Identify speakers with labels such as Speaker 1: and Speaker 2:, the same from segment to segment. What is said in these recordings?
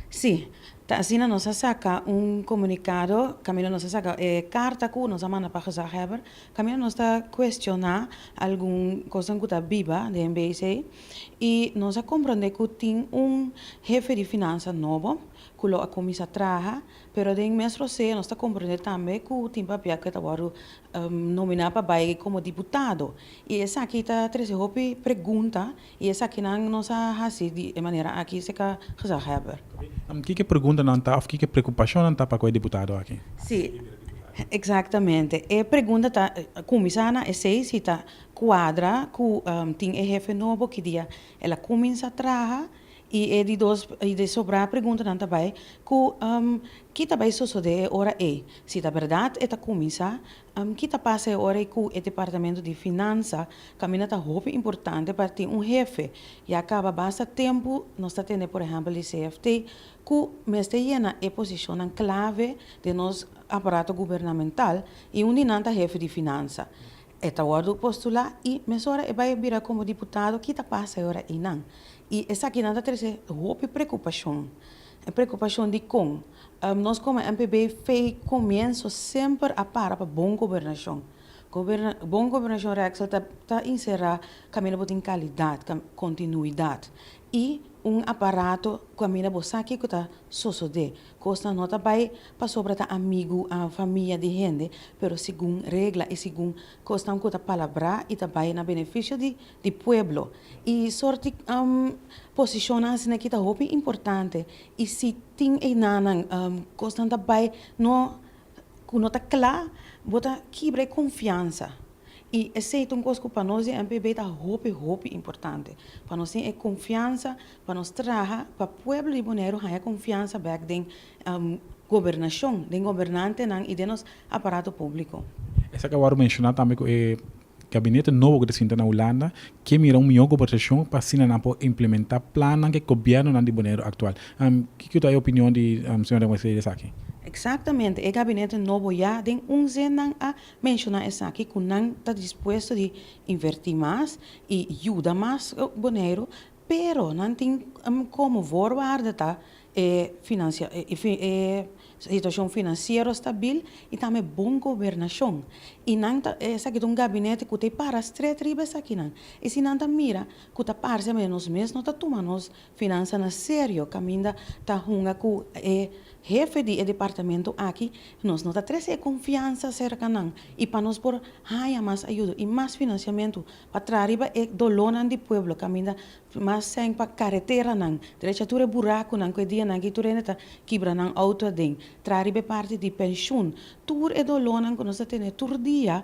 Speaker 1: Sí, ta asina nos a saka un komunikado kaminda nos a saka e karta ku nos a manda pa gezaghebber kaminda nos ta kuestioná algun kosnan ku ta biba den BIC i nos a komprondé ku tin un hefe di finansa nobo ku lo a kuminsá traha pero den mes rosé nos ta komprondé tambe ku tin papia ku e ta wòrdu nominá pa bai komo diputado i esaki ta trese hopi pregunta. Y esakinan nos a haci di e manera aki se ca gezaghebber. Kiko e preguntanan
Speaker 2: ta of kiko e preocupacionnan ta pa cu e diputado aki? Si,
Speaker 1: exactamente. E pregunta ta cuminsa na esey si ta cuadra cu tin e hefe nobo ki dia el a cuminsa traha y e di dos y di sobra preguntanan ta bay cu ki ta bay sosode e ora ey, si ta berdad e ta cuminsa Ki ta pasa e ora ei ku e departamento di finansa? Kaminda ta hopi importante pa tin un hefe, ya kaba basta tempu nos ta tende por ehèmpel di CFT ku mester yena e posishonnan klave den nos aparato gubernamental i un di nan ta hefe di finansa. E ta wòrdu postulá i mesora e bai bira komo diputado. Ki ta pasa e ora einan? I esakinan ta trese hopi preokupashon. Preokupashon dikon? Nos como MPB fey comienso semper a para pa bon gobernacion. Bon gobernacion Rexel ta encera caminda bo tin calidad, continuidad y un aparato caminda bo sa kico ta sosode. Cosnan no ta bay pasobra ta amigo a famia di hende pero segun regla y segun cosnan cu ta palabra y ta bay na beneficio di di pueblo y sorti posicionnan asina aki ta hopi importante y si tin einanan cosnan ta bay no cu no ta cla bo ta kibra e confiansa y esey ta un cos cu pa nos den MPB ta hopi hopi importante pa nos tin e confiansa pa nos traha pa pueblo di Bonaire haya confiansa bek den gobernacion den gobernantenan y den nos aparato publico. Esaki awor
Speaker 2: menciona tambe cu e Gabinete nobo ku ta sinta na Hulanda ke mira un mihó gobertashon pa asina nan por implementá plannan ku e gobièrnunan di Boneiru aktual. Kiko ku ta e opinion di Señor den Wesley esaki? Eksaktamente, e
Speaker 1: gabinete nobo ya den un zin nan a menshoná esaki ku nan ta dispuesto di invertí mas i yuda mas Boneiru, pero nan tin komo voorwaarde ta E situashon finansiero stabil i tambe bon gobernashon. I nan ta, esaki ta un gabinete ku ta e para strèt riba esakinan. I si nan ta mira ku ta parse awe nos mes no ta tuma nos finansa na serio kaminda ta hunga ku e hefe di e departamento aki nos no ta trese e konfiansa serka nan i pa nos por haña mas ayudo i mas finansiamentu pa traha riba e dolónan di pueblo kaminda Mas sèn pa kareteranan. Drecha tur e burakunan ku e dianan aki tur hende ta kibra nan outo aden. Traha riba e parti di penshun. Tur e dolónan ku nos ta tene tur dia.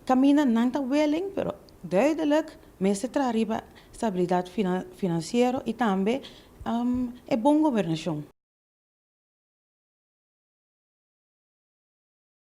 Speaker 1: Kaminda nan ta wèlen, pero duidelijk mester traha riba stabilidat finansiero i tambe e bon gobernashon.